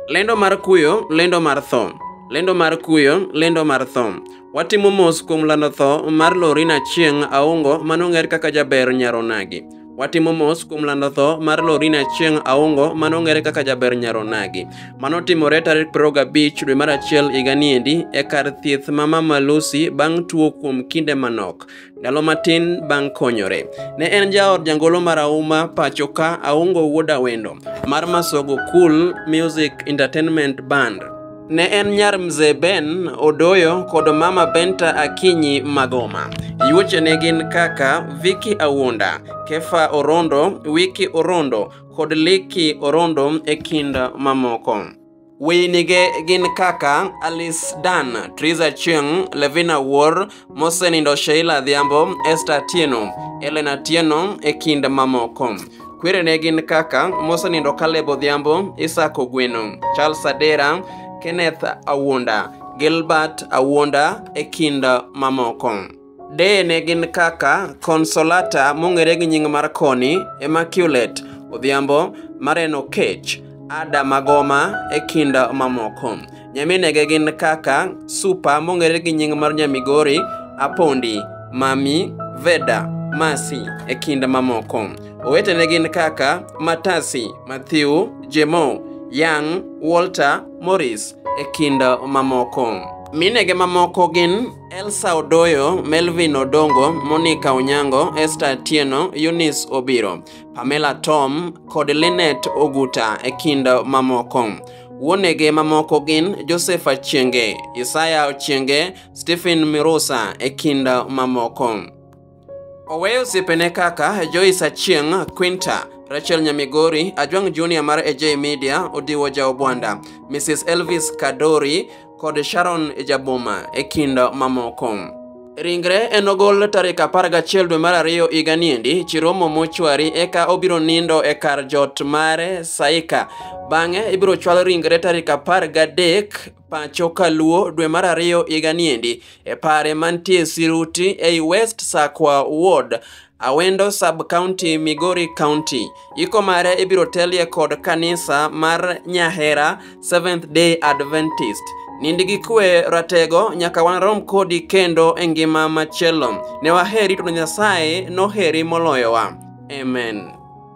Lendo mar kuyo, lendo mar tho. Lendo mar kuyo, lendo mar tho. Watimo mos kuom lando tho mar Lorina Chieng' Aongo manong'er kaka jaber Nyaronagi. Watimo mos kuom lando tho mar Lorina Chieng' Aongo manong'ere kaka jaber Nyaronagi. Mano timore tarik 25 dwe mar achiel higa niendi e kar thieth ma Mama Lucy bang' tuo kuom kinde manok. Ndalo matin bang' konyore, ne en jaod jangolo marahuma pachoka Aungo Wuod Awendo mar Masogo Cool Music Entertainment Band. Ne en nyar Mzee Ben Odoyo kod Mama Benta Akinyi Magoma. Yuochene gin kaka Vicky Awuonda, Kefa Orondo, Wiki Orondo kod Liki Orondo e kind mamoko. Weyinige gin kaka Alice Dan, Triza Chieng, Levina Wuor, mosenindo Sheila Adhiambo, Esther Tieno, Elena Tieno e kind mamoko. Kwerene gin kaka mosenindo Caleb Odhiambo, Isaac Ogweno, Charles Adera, Kenneth Awuonda, Gilbert Awuonda e kind mamoko. Deye ne gin kaka Consolata mong'ere gi nying mar Koni, Immaculate Odhiambo, Maren Okech, Ada Magoma e kind mamoko. Nyaminege gin kaka Supa mong'ere gi nying mar Nyamigori, Apondi, Mami, Veda, Masi e kind mamoko. Owetene gin kaka Matasi, Matthew, Jemo, Young, Walter, Morris e kind mamoko. Minege mamoko gin Elsa Odoyo, Melvin Odongo, Monica Onyango, Esther Atieno, Eunice Obiro, Pamela Tom kod Lynette Oguta e kind mamoko. Wuonege mamoko gin Joseph Achienge, Isaya Ochienge, Stephen Mirusa e kind mamoko. Oweyo osiepene kaka Joyce Achieng', Quinta, Rachel Nyamigori, Ajwang' Junior mar AJ Media, Odiwo Jaobwanda, Mrs. Elvis Kadori kod Sharon Jaboma e kind mamoko. Ringre enogol tarik 11 dwe mar ariyo higa niendi Chiromo mochwari eka obiro nindo e kar jot mare Saika. Bang'e ibiro chwal ringre tarik 13 pacho kaluo dwe mar ariyo higa niendi e pare mantie Siruti ei West Sakwa Ward Awendo Sub County, Migori County. Iko mare ibiro telie kod kanisa mar Nyahera Seventh Day Adventist. Nindi gi kwe ratego nyaka warom kodi kendo e ngima machielo. Ne waheri to Nyasaye noheri moloyowa. Amen.